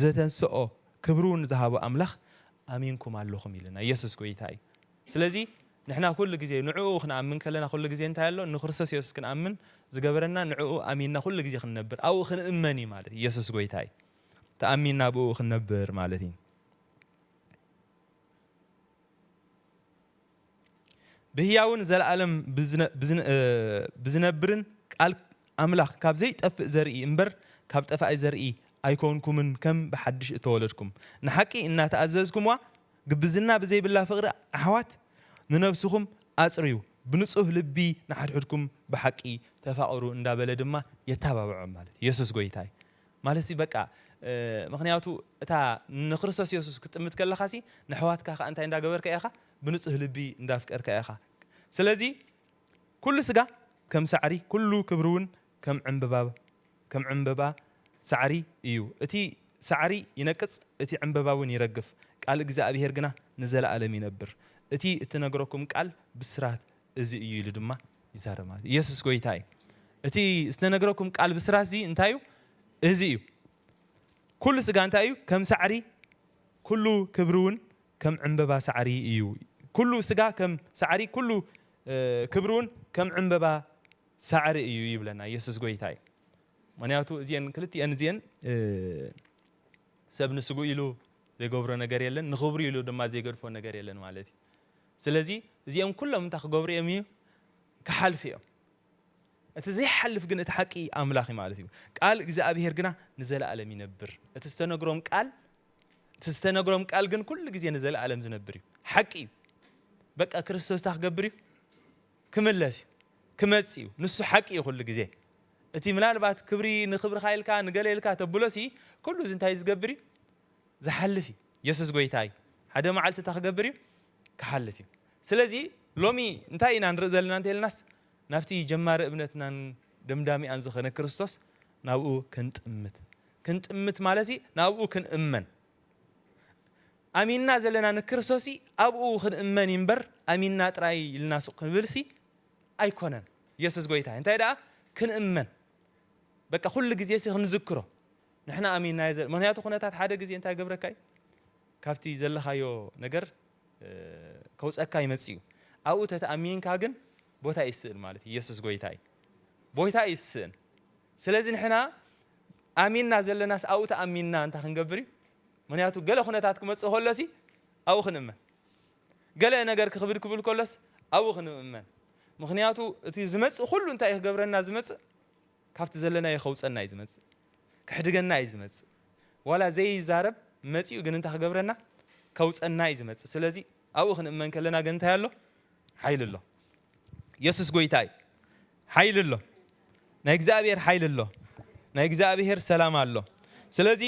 ዘተንሰኦ ክብሪ ውን ዝሃቦ ኣምላኽ ኣሚንኩም ኣለኹም ኢልና የሱስ ጎይታ እዩ ስለዚ ንሕና ኩሉ ግዜ ንዕኡ ክንኣምን ከለና ኩሉ ግዜ እንታይ ኣሎ ንክርስቶስ የሱስ ክንኣምን ዝገበረና ንዕኡ ኣሚንና ኩሉ ግዜ ክንነብር ኣብኡ ክንእመን እዩ ማለት የሱስ ጎይታ እዩ ተኣሚንና ኣብኡ ክንነብር ማለት እዩ ብህያውን ዘለኣለም ብዝነብርን ቃል ኣምላኽ ካብ ዘይጠፍእ ዘርኢ እምበር ካብ ጠፋኢ ዘርኢ ኣይኮንኩምን ከም ብሓድሽ እተወለድኩም ንሓቂ እናተኣዘዝኩምዋ ግብዝና ብዘይብላ ፍቕሪ ኣሕዋት ንነፍስኹም ኣጽርዩ ብንጹህ ልቢ ንሓድሕድኩም ብሓቂ ተፋቕሩ እንዳበለ ድማ የተባብዖም ማለት ኢየሱስ ጎይታይ ማለትሲ በቃ ምኽንያቱ እታ ንክርስቶስ የሱስ ክትጥምት ከለኻሲ ነሕዋትካ ከኣ እንታይ እንዳገበርካ ኢኻ ብንጹህ ልቢ እንዳፍቀርካ ኢኻ ስለዚ ኩሉ ስጋ ከም ሳዕሪ ኩሉ ክብሪውን ከም ዕንብባ ከም ዕንብባ ሳዕሪ እዩ እቲ ሳዕሪ ይነቅጽ እቲ ዕንብባውን ይረግፍ ቃል እግዚኣብሄር ግና ንዘለኣለም ይነብር እቲ እትነግረኩም ቃል ብስራት እዚ እዩ ኢሉ ድማ ይዛረብ ማለት እዩ። ኢየሱስ ጎይታ እዩ። እቲ ዝተነግረኩም ቃል ብስራት እዚ እንታይ እዩ? እዚ እዩ። ኩሉ ስጋ እንታይ እዩ? ከም ሳዕሪ ኩሉ ክብሪ እውን ከም ዕምበባ ሳዕሪ እዩ። ኩሉ ስጋ ከም ሳዕሪ ኩሉ ክብሪ እውን ከም ዕምበባ ሳዕሪ እዩ ይብለና። ኢየሱስ ጎይታ እዩ። ምክንያቱ እዚአን ክልቲአን እዚአን ሰብ ንስግኡ ኢሉ ዘይገብሮ ነገር የለን፣ ንክብሩ ኢሉ ድማ ዘይገድፎ ነገር የለን ማለት እዩ። ስለዚ እዚኦም ኩሎም እንታይ ክገብሩ እዮም እዩ ክሓልፉ እዮም እቲ ዘይሓልፍ ግን እቲ ሓቂ ኣምላኽ እዩ ማለት እዩ ቃል እግዚኣብሄር ግና ንዘለኣለም ይነብር እቲ ዝተነግሮም ቃል እቲ ዝተነግሮም ቃል ግን ኩሉ ግዜ ንዘለኣለም ዝነብር እዩ ሓቂ እዩ በቃ ክርስቶስ እንታይ ክገብር እዩ ክምለስ እዩ ክመጽእ እዩ ንሱ ሓቂ እዩ ኩሉ ግዜ እቲ ምናልባት ክብሪ ንክብርካ ኢልካ ንገለ ኢልካ ተብሎሲ ኩሉ እዚ እንታይ ዝገብር እዩ ዝሓልፍ እዩ የሱስ ጎይታ እዩ ሓደ መዓልቲ እንታይ ክገብር እዩ ክሓልፍ እዩ ስለዚ ሎሚ እንታይ ኢና ንርኢ ዘለና እንተልናስ ናብቲ ጀማሪ እምነትናን ደምዳሚኣን ዝኸነ ክርስቶስ ናብኡ ክንጥምት ክንጥምት ማለት እዩ ናብኡ ክንእመን ኣሚንና ዘለና ንክርስቶስ ኣብኡ ክንእመን እምበር ኣሚንና ጥራይ ኢልና ሱቅ ክንብልሲ ኣይኮነን የሱስ ጎይታ እንታይ ደኣ ክንእመን በቃ ኩሉ ግዜ ሲ ክንዝክሮ ንሕና ኣሚንናዮ ዘለና ምኽንያቱ ኩነታት ሓደ ግዜ እንታይ ይገብረካ እዩ ካብቲ ዘለኻዮ ነገር ከውፀካ ይመፅእ እዩ ኣብኡ ተተኣሚንካ ግን ቦታ ይስእን ማለት እዩ የሱስ ጎይታ እዩ ቦታ እዩ ዝስእን ስለዚ ንሕና ኣሚንና ዘለናስ ኣብኡ ተኣሚንና እንታይ ክንገብር እዩ ምክንያቱ ገለ ኩነታት ክመፅእ ከሎ ሲ ኣብኡ ክንእመን ገለ ነገር ክኽብድ ክብል ከሎስ ኣብኡ ክንእመን ምክንያቱ እቲ ዝመፅእ ኩሉ እንታይ ክገብረና ዝመፅእ ካብቲ ዘለናዮ ከውጸና እዩ ዝመጽእ ከሕድገና እዩ ዝመጽእ ዋላ ዘይዛረብ መጺኡ ግን እንታይ ክገብረና ከውጸና እዩ ዝመጽእ ስለዚ ኣብኡ ክንእመን ከለና ግን እንታይ ኣሎ ሓይሊ ኣሎ የሱስ ጎይታ እዩ ሓይሊ ኣሎ ናይ እግዚኣብሔር ሓይሊ ኣሎ ናይ እግዚኣብሔር ሰላም ኣሎ ስለዚ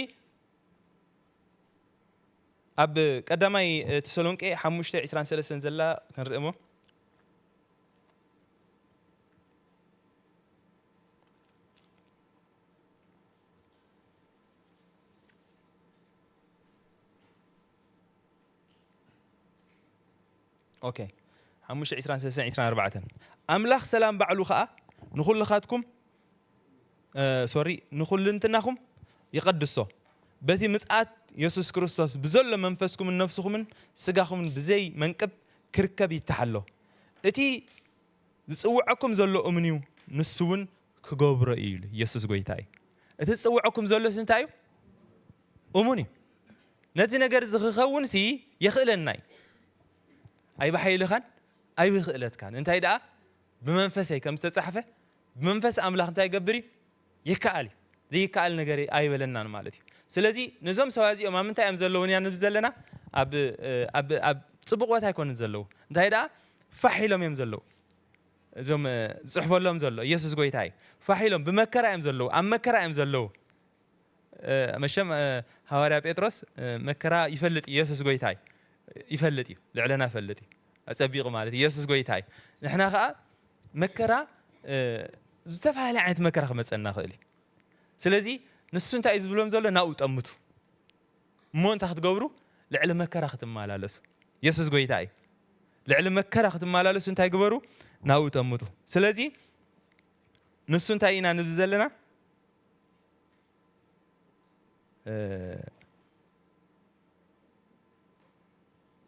ኣብ ቀዳማይ ተሰሎንቄ 5 23 ዘላ ክንርኢ እሞ ኦኬ ሓሙሽተ ዒስራን ሰለስተን ዒስራን ኣርባዕተን ኣምላኽ ሰላም ባዕሉ ኸኣ ንዅልኻትኩም ሶሪ ንዅልንትናኹም ይቐድሶ በቲ ምጽኣት የሱስ ክርስቶስ ብዘሎ መንፈስኩምን ነፍስኹምን ስጋኹምን ብዘይ መንቅብ ክርከብ ይተሓሎ እቲ ዝጽውዐኩም ዘሎ እምን እዩ ንሱ ውን ክገብሮ እዩ ኢሉ የሱስ ጎይታ እዩ እቲ ዝጽውዐኩም ዘሎስ እንታይ እዩ እሙን እዩ ነዚ ነገር እዚ ክኸውን ሲ የኽእለና እዩ ኣይብሓይልኻን ኣይብክእለትካን እንታይ ደኣ ብመንፈሰይ ከም ዝተጻሕፈ ብመንፈስ ኣምላኽ እንታይ ይገብር እዩ ይከኣል እዩ ዘይከኣል ነገር ኣይበለናን ማለት እዩ ስለዚ ነዞም ሰባት እዚኦም ኣብ ምንታይ እዮም ዘለዉ ኢና ንብል ዘለና ኣብ ኣብ ኣብ ጽቡቕ ቦታ ኣይኮኑን ዘለዉ እንታይ ደኣ ፋሕ ኢሎም እዮም ዘለዉ እዞም ዝጽሕፈሎም ዘሎ ኢየሱስ ጎይታ እዩ ፋሕ ኢሎም ብመከራ እዮም ዘለዉ ኣብ መከራ እዮም ዘለዉ መሸም ሃዋርያ ጴጥሮስ መከራ ይፈልጥ ኢየሱስ ጎይታ እዩ ይፈልጥ እዩ ልዕለና ይፈልጥ እዩ ኣጸቢቑ ማለት ኢየሱስ ጎይታ እዩ ንሕና ከኣ መከራ ዝተፈላለየ ዓይነት መከራ ክመፀና ይኽእል እዩ ስለዚ ንሱ እንታይ እዩ ዝብሎም ዘሎ ናብኡ ጠምቱ እሞ እንታይ ክትገብሩ ልዕሊ መከራ ክትመላለሱ የሱስ ጎይታ እዩ ልዕሊ መከራ ክትመላለሱ እንታይ ግበሩ ናብኡ ጠምቱ ስለዚ ንሱ እንታይ ኢና ንብል ዘለና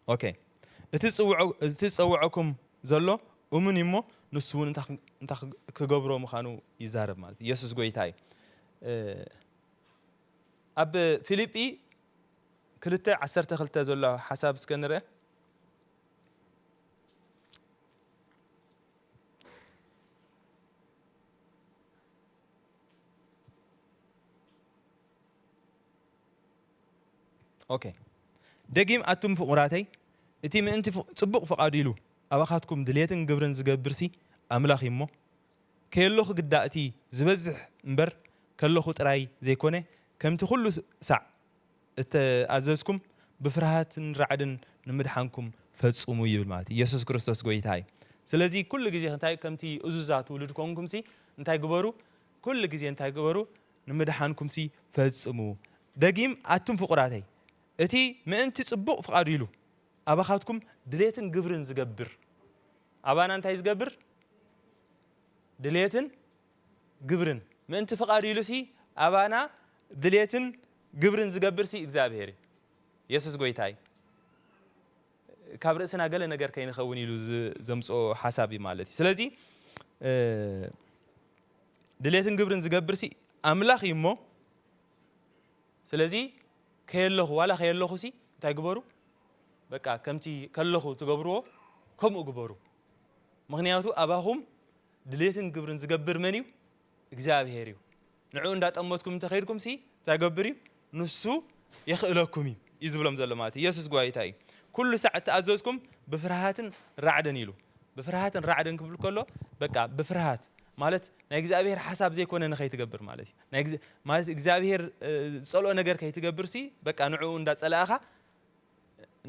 ኦኬ እቲ ዝጽውዖ እቲ ዝጸውዖኩም ዘሎ እሙን እዩ እሞ ንሱ እውን እንታይ ክ- እንታይ ክ- ክገብሮ ምዃኑ ይዛረብ ማለት እዩ። ኢየሱስ ጎይታ እዩ። እ፣ ኣብ ፊልጲ ክልተ ዓሰርተ ክልተ ዘሎ ሓሳብ እስከ ንርአ። ኦኬ ደጊም ኣቱም ፍቁራተይ እቲ ምእንቲ ጽቡቅ ፍቃዱ ኢሉ ኣባካትኩም ድልየትን ግብርን ዝገብርሲ ኣምላክ እዩ እሞ ከየሎኩ ግዳ እቲ ዝበዝሕ እምበር ከለኩ ጥራይ ዘይኮነ ከምቲ ኩሉ ሳዕ እተኣዘዝኩም ብፍርሃትን ራዕድን ንምድሓንኩም ፈጹሙ ይብል ማለት እዩ የሱስ ክርስቶስ ጎይታ እዩ ስለዚ ኩሉ ግዜ እንታይ ከምቲ እዙዛት ውሉድ ኮንኩምሲ እንታይ ግበሩ ኩሉ ግዜ እንታይ ግበሩ ንምድሓንኩምሲ ፈጽሙ ደጊም ኣቱም ፍቁራተይ እቲ ምእንቲ ጽቡቅ ፍቃዱ ኢሉ ኣባኻትኩም ድሌትን ግብርን ዝገብር ኣባና እንታይ ዝገብር ድሌትን ግብርን ምእንቲ ፍቃዱ ኢሉሲ ኣባና ድሌትን ግብርን ዝገብርሲ እግዚኣብሔር እዩ የሱስ ጎይታ እዩ። ካብ ርእስና ገለ ነገር ከይንኸውን ኢሉ ዘምጽኦ ሓሳብ እዩ ማለት እዩ። ስለዚ ድሌትን ግብርን ዝገብርሲ ኣምላኽ እዩ እሞ ስለዚ ከየለኹ ዋላ ከየለኹሲ እንታይ ግበሩ በቃ ከምቲ ከለኹ ትገብርዎ ከምኡ ግበሩ ምክንያቱ ኣባኹም ድሌትን ግብርን ዝገብር መን እዩ እግዚኣብሄር እዩ ንዕኡ እንዳጠመትኩም እንተከድኩም ሲ እንታይ ገብር እዩ ንሱ የክእለኩም እዩ እዩ ዝብሎም ዘሎ ማለት ኢየሱስ ጓይታ እዩ ኩሉ ሳዕ እተኣዘዝኩም ብፍርሃትን ራዕድን ኢሉ ብፍርሃትን ራዕድን ክብል ከሎ በቃ ብፍርሃት ማለት ናይ እግዚኣብሄር ሓሳብ ዘይኮነ ንኸይትገብር ማለት እዩ ናይ ማለት እግዚኣብሄር ዝጸልኦ ነገር ከይትገብር ሲ በቃ ንዕኡ እንዳጸላእኻ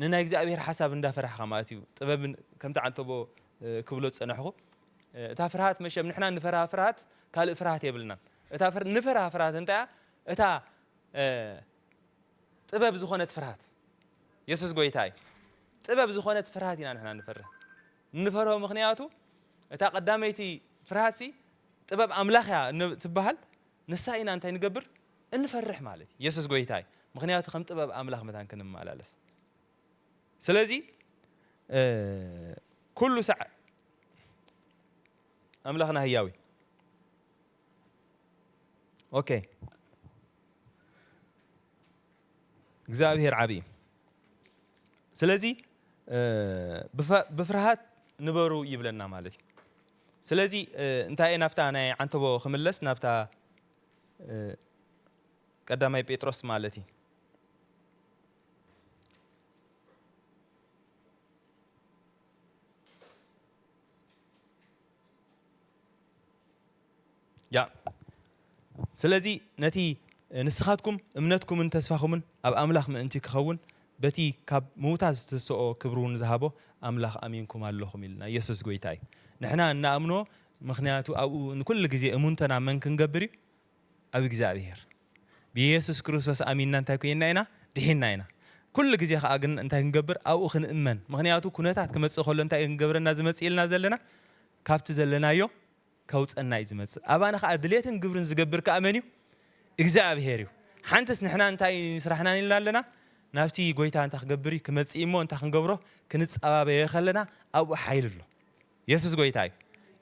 ንናይ እግዚኣብሄር ሓሳብ እንዳፈራሕኻ ማለት እዩ ጥበብ ከምቲ ዓንተቦ ክብሎ ዝጸናሕኩ እታ ፍርሃት መሸም ንሕና ንፈርሃ ፍርሃት ካልእ ፍርሃት የብልናን እታ ንፈርሃ ፍርሃት እንታይ እያ እታ ጥበብ ዝኾነት ፍርሃት የሱስ ጎይታ እዩ ጥበብ ዝኾነት ፍርሃት ኢና ንሕና ንፈርህ ንፈርሆ ምክንያቱ እታ ቀዳመይቲ ፍርሃት ሲ ጥበብ ኣምላኽ እያ ትበሃል ንሳ ኢና እንታይ ንገብር እንፈርሕ ማለት እዩ የሱስ ጎይታ እዩ ምክንያቱ ከም ጥበብ ኣምላኽ መታን ክንመላለስ ስለዚ ኩሉ ሳዕ ኣምላኽና ህያው እዩ ኦኬ እግዚኣብሄር ዓብዪ እዩ ስለዚ ብፍርሃት ንበሩ ይብለና ማለት እዩ ስለዚ እንታይ ናብታ ናይ ዓንተቦ ክምለስ ናብታ ቀዳማይ ጴጥሮስ ማለት እዩ። ያ ስለዚ ነቲ ንስኻትኩም እምነትኩምን ተስፋኹምን ኣብ ኣምላኽ ምእንቲ ክኸውን በቲ ካብ ምውታት ዝተሰኦ ክብሪ እውን ዝሃቦ ኣምላኽ ኣሚንኩም ኣለኹም ኢልና ኢየሱስ ጎይታ እዩ ንሕና እናኣምኖ ምኽንያቱ ኣብኡ ንኩሉ ግዜ እሙንቶና መን ክንገብር እዩ ኣብ እግዚኣብሄር ብየሱስ ክርስቶስ ኣሚንና እንታይ ኮይንና ኢና ድሒንና ኢና ኩሉ ግዜ ከኣ ግን እንታይ ክንገብር ኣብኡ ክንእመን ምኽንያቱ ኩነታት ክመጽእ ከሎ እንታይ እዩ ክንገብረና ዝመጽእ ኢልና ዘለና ካብቲ ዘለናዮ ከውጸና እዩ ዝመጽእ ኣባና ከኣ ድሌትን ግብርን ዝገብር ከኣ መን እዩ እግዚኣብሄር እዩ ሓንትስ ንሕና እንታይ ስራሕና ኢልና ኣለና ናብቲ ጎይታ እንታይ ክገብር እዩ ክመጽእ እሞ እንታይ ክንገብሮ ክንጸባበዮ ከለና ኣብኡ ሓይሊ ኣሎ የሱስ ጎይታ እዩ።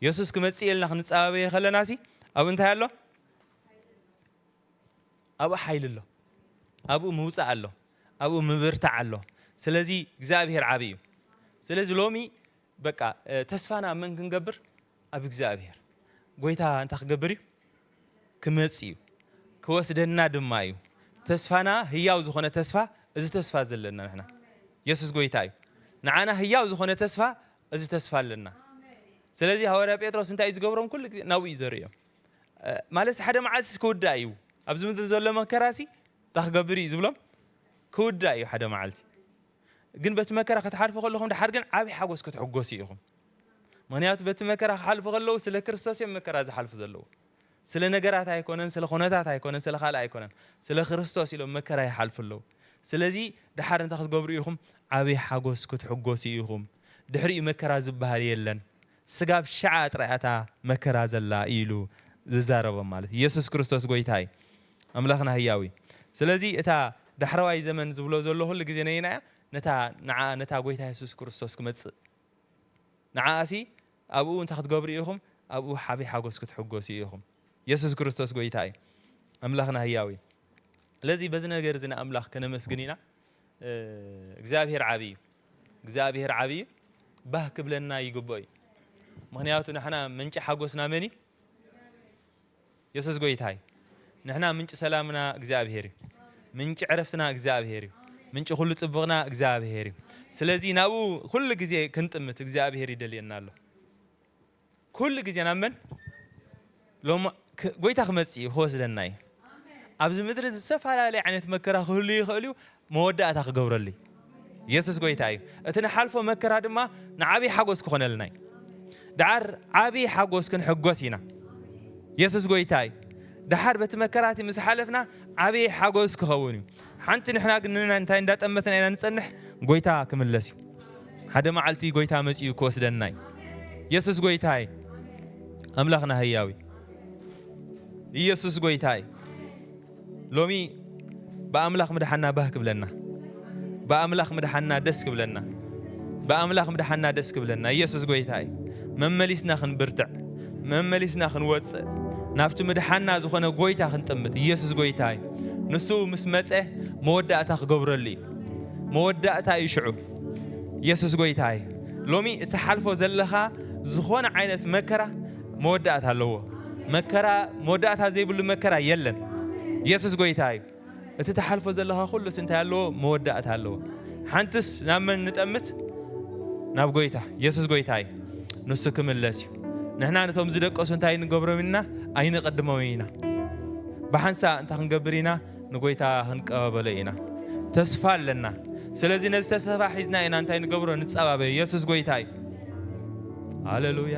የሱስ ክመጽእ እየ ኢልና ክንጻባበየ ከለናሲ ኣብኡ እንታይ ኣሎ? ኣብኡ ሓይሊ ኣሎ። ኣብኡ ምውጻእ ኣሎ። ኣብኡ ምብርታዕ ኣሎ። ስለዚ እግዚኣብሄር ዓቢ እዩ። ስለዚ ሎሚ በቃ ተስፋና ኣብ መን ክንገብር? ኣብ እግዚኣብሄር። ጎይታ እንታይ ክገብር እዩ? ክመጽእ'ዩ፣ ክወስደና ድማ እዩ። ተስፋና ህያው ዝኾነ ተስፋ እዚ ተስፋ እዚ ኣለና ንሕና። የሱስ ጎይታ እዩ። ንዓና ህያው ዝኾነ ተስፋ እዚ ተስፋ ኣለና። ስለዚ ሃዋርያ ጴጥሮስ እንታይ እዩ ዝገብሮም ኩሉ ግዜ ናብኡ እዩ ዘርእዮም። ማለት ሓደ መዓልትስ ክውዳእ እዩ ኣብዚ ምድሪ ዘሎ መከራሲ እንታይ ክገብር እዩ ዝብሎም ክውዳእ እዩ ሓደ መዓልቲ ግን በቲ መከራ ክትሓልፉ ከለኹም ድሓር ግን ዓቢ ሓጎስ ክትሕጎሱ ኢኹም ምክንያቱ በቲ መከራ ክሓልፉ ከለዉ ስለ ክርስቶስ እዮም መከራ ዝሓልፉ ዘለዉ ስለ ነገራት ኣይኮነን ስለ ኩነታት ኣይኮነን ስለ ካልእ ኣይኮነን ስለ ክርስቶስ ኢሎም መከራ ይሓልፉ ኣለዉ ስለዚ ድሓር እንታይ ክትገብሩ ኢኹም ዓቢ ሓጎስ ክትሕጎሱ ኢኹም ድሕሪኡ መከራ ዝበሃል የለን ስጋብ ሽዓ ጥራይ እያ እታ መከራ ዘላ እዩ ኢሉ ዝዛረቦም ማለት እዩ የሱስ ክርስቶስ ጎይታ እዩ ኣምላኽና ህያው እዩ ስለዚ እታ ዳሕረዋይ ዘመን ዝብሎ ዘሎ ኩሉ ግዜ ነየናይ እያ ነታ ንዓኣ ነታ ጎይታ የሱስ ክርስቶስ ክመጽእ ንዓኣሲ ኣብኡ እንታይ ክትገብሩ ኢኹም ኣብኡ ሓቢ ሓጎስ ክትሕጎሱ ኢኹም የሱስ ክርስቶስ ጎይታ እዩ ኣምላኽና ህያው እዩ ስለዚ በዚ ነገር እዚ ንኣምላኽ ከነመስግን ኢና እግዚኣብሄር ዓቢ እዩ እግዚኣብሄር ዓቢ እዩ ባህ ክብለና ይግብኦ እዩ ምክንያቱ ንሕና ምንጪ ሓጎስና መን እዩ የሱስ ጎይታ እዩ ንሕና ምንጪ ሰላምና እግዚኣብሄር እዩ ምንጪ ዕረፍትና እግዚኣብሄር እዩ ምንጪ ኩሉ ጽቡቕና እግዚኣብሄር እዩ ስለዚ ናብኡ ኩሉ ግዜ ክንጥምት እግዚኣብሄር ይደልየና ኣሎ ኩሉ ግዜ ናብ መን ሎማ ጎይታ ክመጽእ እዩ ክወስደና እዩ ኣብዚ ምድሪ ዝተፈላለየ ዓይነት መከራ ክህሉ ይኽእል እዩ መወዳእታ ክገብረሉ እዩ የሱስ ጎይታ እዩ እቲ ንሓልፎ መከራ ድማ ንዓብዪ ሓጎስ ክኾነልና እዩ ደሓር ዓብዪ ሓጎስ ክንሕጎስ ኢና የሱስ ጎይታ እዩ ደሓር በቲ መከራቲ ምስ ሓለፍና ዓብዪ ሓጎስ ክኸውን እዩ ሓንቲ ንሕና ግን ንናይ እንታይ እንዳጠመትና ኢና ንጸንሕ ጎይታ ክምለስ እዩ ሓደ መዓልቲ ጎይታ መጺኡ ክወስደና እዩ የሱስ ጎይታ እዩ ኣምላኽና ህያው እዩ ኢየሱስ ጎይታ እዩ ሎሚ ብኣምላኽ ምድሓና ባህ ክብለና ብኣምላኽ ምድሓና ደስ ክብለና ብኣምላኽ ምድሓና ደስ ክብለና ኢየሱስ ጎይታ እዩ መመሊስና ክንብርትዕ መመሊስና ክንወጽእ ናብቲ ምድሓና ዝኾነ ጎይታ ክንጥምት ኢየሱስ ጎይታ እዩ ንሱ ምስ መጸ መወዳእታ ክገብረሉ እዩ መወዳእታ እዩ ሽዑ ኢየሱስ ጎይታ እዩ ሎሚ እትሓልፎ ዘለኻ ዝኾነ ዓይነት መከራ መወዳእታ ኣለዎ መከራ መወዳእታ ዘይብሉ መከራ የለን ኢየሱስ ጎይታ እዩ እቲ ትሓልፎ ዘለኻ ኩሉስ እንታይ ኣለዎ? መወዳእታ ኣለዎ። ሓንትስ ናብ መን ንጠምት? ናብ ጎይታ የሱስ ጎይታ እዩ። ንሱ ክምለስ እዩ። ንሕና ነቶም ዝደቀሱ እንታይ ንገብሮም ኢና? ኣይንቕድሞም ኢና። ብሓንሳእ እንታይ ክንገብር ኢና? ንጎይታ ክንቀባበሎ ኢና። ተስፋ ኣለና። ስለዚ ነዚ ተስፋ ሒዝና ኢና እንታይ ንገብሮ? ንጸባበ። የሱስ ጎይታ እዩ። ሃሌሉያ!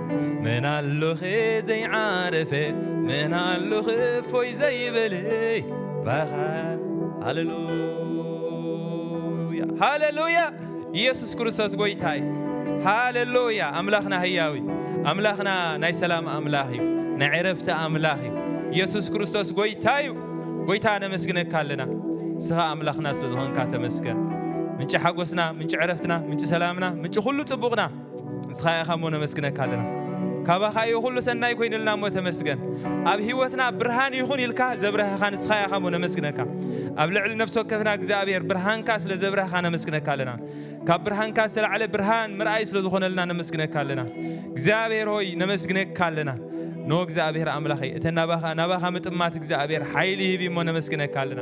መን ኣሎኸ ዘይዓረፈ መን ኣሎኸ እፎይ ዘይበለ ባኻ ሃሌሉያ ሃሌሉያ ኢየሱስ ክርስቶስ ጎይታ እዩ ሃሌሉያ ኣምላኽና ህያው እዩ ኣምላኽና ናይ ሰላም ኣምላኽ እዩ ናይ ዕረፍቲ ኣምላኽ እዩ ኢየሱስ ክርስቶስ ጎይታ እዩ ጎይታ ነመስግነካ ኣለና ንስኻ ኣምላኽና ስለ ዝኾንካ ተመስገን ምንጪ ሓጎስና ምንጪ ዕረፍትና ምንጪ ሰላምና ምንጪ ኩሉ ጽቡቕና ንስኻ ኢኻ እሞ ነመስግነካ ኣለና ካባኻ እዩ ኩሉ ሰናይ ኮይንልና እሞ ተመስገን ኣብ ህይወትና ብርሃን ይኹን ኢልካ ዘብረህኻ ንስኻ ኢኻ እሞ ነመስግነካ ኣብ ልዕሊ ነፍሲ ወከፍና እግዚኣብሔር ብርሃንካ ስለ ዘብረህኻ ነመስግነካ ኣለና ካብ ብርሃንካ ዝተላዕለ ብርሃን ምርኣይ ስለ ዝኾነልና ነመስግነካ ኣለና እግዚኣብሔር ሆይ ነመስግነካ ኣለና ኖ እግዚኣብሔር ኣምላኸይ እተ ናባኻ ምጥማት እግዚኣብሔር ሓይሊ ይህብ እሞ ነመስግነካ ኣለና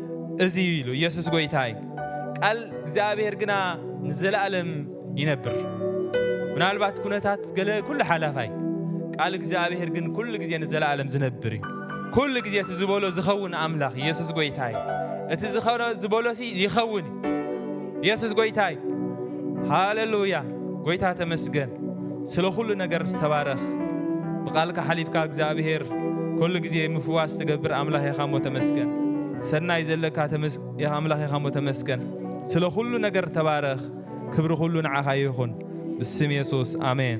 እዚ እዩ ኢሉ ኢየሱስ ጎይታ እዩ ቃል እግዚኣብሔር ግና ንዘለኣለም ይነብር ምናልባት ኩነታት ገለ ኩሉ ሓላፋይ ቃል እግዚኣብሔር ግን ኩሉ ግዜ ንዘለኣለም ዝነብር እዩ ኩሉ ግዜ እቲ ዝበሎ ዝኸውን ኣምላኽ ኢየሱስ ጎይታ እዩ እቲ ዝኾነ ዝበሎሲ ይኸውን ኢየሱስ ጎይታይ ሃሌሉያ ጎይታ ተመስገን ስለ ኩሉ ነገር ተባረኽ ብቃልካ ሓሊፍካ እግዚኣብሔር ኩሉ ግዜ ምፍዋስ ትገብር ኣምላኽ ኢኻ እሞ ተመስገን ሰናይ ዘለካ ኣምላኽ ኢኻ እሞ ተመስገን ስለ ኩሉ ነገር ተባረኽ ክብሪ ኩሉ ንዓኻ ይኹን ብስም የሱስ ኣሜን